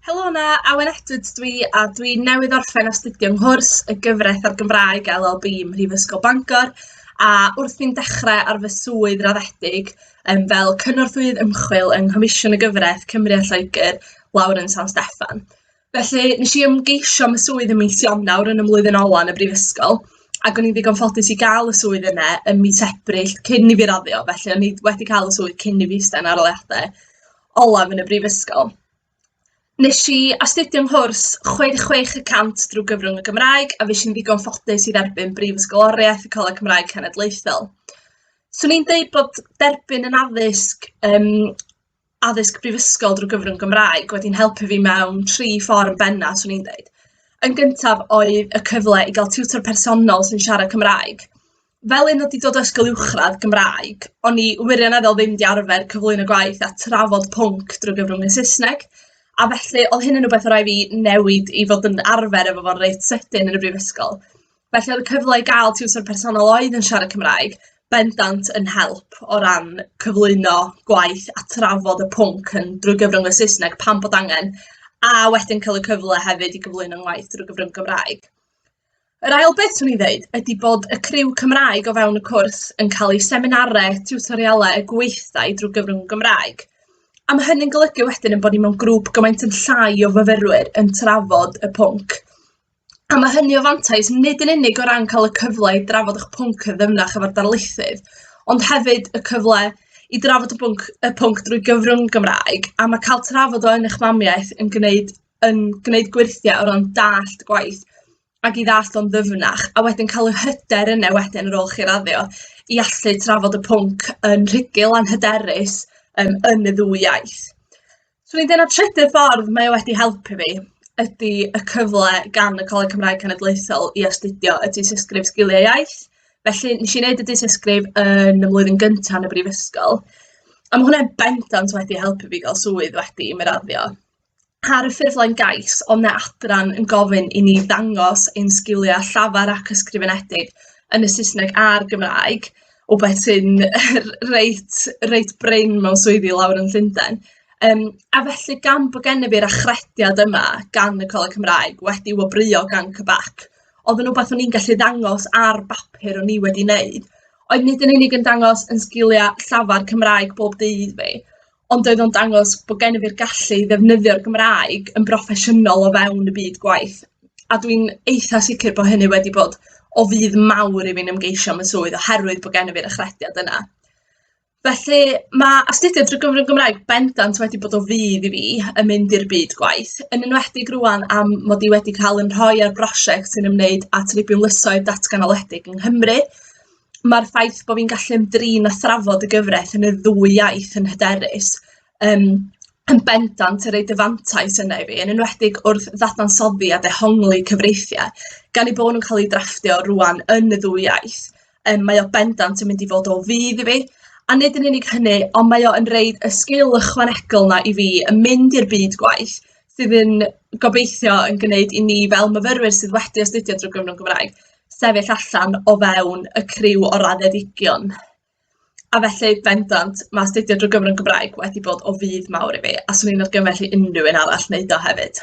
Helo yna, Awen Edwards dwi, a dwi newydd orffen astudio nghwrs y gyfraith a'r Gymraeg LLB ym Mhrifysgol Bangor, a wrth fi'n dechrau ar fy swydd raddedig um, fel cynorthwyydd ymchwil yng Nghomisiwn y Gyfraith Cymru a Lloegr, Lawrence San Steffan. Felly, nes i ymgeisio am y swydd ym mis Ionawr yn y mlwyddyn ola yn y brifysgol, ac o'n i'n ddigon ffodus i gael y swydd yna ym mis Ebrill cyn i fi raddio, felly o'n i wedi cael y swydd cyn i fi ista yn arholiadau olaf yn y brifysgol. Nes i astudio yng nghwrs 66 y 100 drwy gyfrwng y Gymraeg a fues i'n ddigon ffodus i dderbyn Brifysgoloriaeth y Coleg Cymraeg Cenedlaethol. Swn i'n deud bod derbyn yn addysg um, addysg brifysgol drwy gyfrwng Gymraeg wedi'n helpu fi mewn tri ffordd yn benna, 'swn i'n dweud. Yn gyntaf oedd y cyfle i gael tiwtor personol sy'n siarad Cymraeg. Fel un oedd 'di dod o ysgol uwchradd Gymraeg, o'n i wirioneddol ddim 'di arfer cyflwyno gwaith a trafod pwnc drwy gyfrwng y Saesneg, a felly oedd hyn yn rhywbeth o' raid fi newid i fod yn arfer efo fo'n reit sydyn yn y brifysgol. Felly oedd y cyfle i gael tiwtor personol oedd yn siarad Cymraeg, bendant yn help o ran cyflwyno gwaith a trafod y pwnc yn drwy gyfrwng y Saesneg pan bod angen, a wedyn cael y cyfle hefyd i gyflwyno ngwaith drwy gyfrwng Gymraeg. Yr ail beth swn i'n ddeud ydy bod y criw Cymraeg o fewn y cwrs yn cael eu seminarau, tiwtorialau, y gweithdai drwy gyfrwng Gymraeg. A mae hynny'n golygu wedyn yn bod ni mewn grŵp gymaint yn llai o fyfyrwyr yn trafod y pwnc. A mae hynny o fantais nid yn unig o ran cael y cyfle i drafod eich pwnc yn ddyfnach efo'r darlithydd, ond hefyd y cyfle i drafod y pwnc y pwnc drwy gyfrwng Gymraeg, a mae cael trafod o yn eich mamiaith yn gwneud yn gwneud gwyrthiau o ran dallt gwaith ac i ddallt o'n ddyfnach, a wedyn cael y hyder yna wedyn ar ôl chi raddio i allu trafod y pwnc yn rhugl, anhyderus, yym, yn y ddwy iaith. 'Swn i'n deud na trydydd ffordd mae o wedi helpu fi ydy y cyfle gan y Coleg Cymraeg Cenedlaethol i astudio y Dystysgrif Sgiliau Iaith. Felly, wnes i wneud y Dystysgrif yn y flwyddyn gynta yn y brifysgol, a ma' hwnna bendant wedi helpu fi gael swydd wedi i mi raddio. Ar y ffurflen gais, oedd 'na adran yn gofyn i ni ddangos ein sgiliau llafar ac ysgrifenedig yn y Saesneg a'r Gymraeg, rywbeth sy'n reit reit brin mewn swyddi lawr yn Llundain. Yym, a felly gan bod gennyf i'r achrediad yma gan y Coleg Cymraeg, wedi wobrwyo gan CBAC, oedd yn rywbeth o'n i'n gallu ddangos ar bapur o'n i wedi wneud, oedd nid yn unig yn dangos yn sgiliau llafar Cymraeg bob dydd fi, ond oedd o'n dangos bod gennyf i'r gallu i ddefnyddio'r Gymraeg yn broffesiynol o fewn y byd gwaith, a dwi'n eitha sicr bod hynny wedi bod o fudd mawr i fi'n ymgeisio am y swydd oherwydd bod gennyf i'r achrediad yna. Felly, mae astudio drwy gyfrwng Gymraeg bendant wedi bod o fudd i fi yn mynd i'r byd gwaith, yn enwedig rŵan am mod i wedi cael yn rhoi ar brosiect sy'n ymwneud â tribiwnlysoedd datganoledig yng Nghymru, mae'r ffaith bod fi'n gallu ymdrin â thrafod y gyfraith yn y ddwy iaith yn hyderus um, yn bendant yn rhoi dyfantais yna i fi, yn enwedig wrth ddadansoddi a dehongli cyfreithiau, gan ei bod nhw'n cael ei drafftio rwan yn y ddwy iaith. Um, mae o bendant yn mynd i fod o fydd i fi, a nid yn unig hynny, ond mae o'n rhoi y sgil ychwanegol yna i fi yn mynd i'r byd gwaith, sydd yn gobeithio yn gwneud i ni fel myfyrwyr sydd wedi astudio drwy gyfrwng Gymraeg, sefyll allan o fewn y criw o raddedigion, a felly bendant mae astudio drwy gyfrwng Gymraeg wedi bod o fudd mawr i fi a 'swn i'n argymell i unrhyw un arall wneud o hefyd.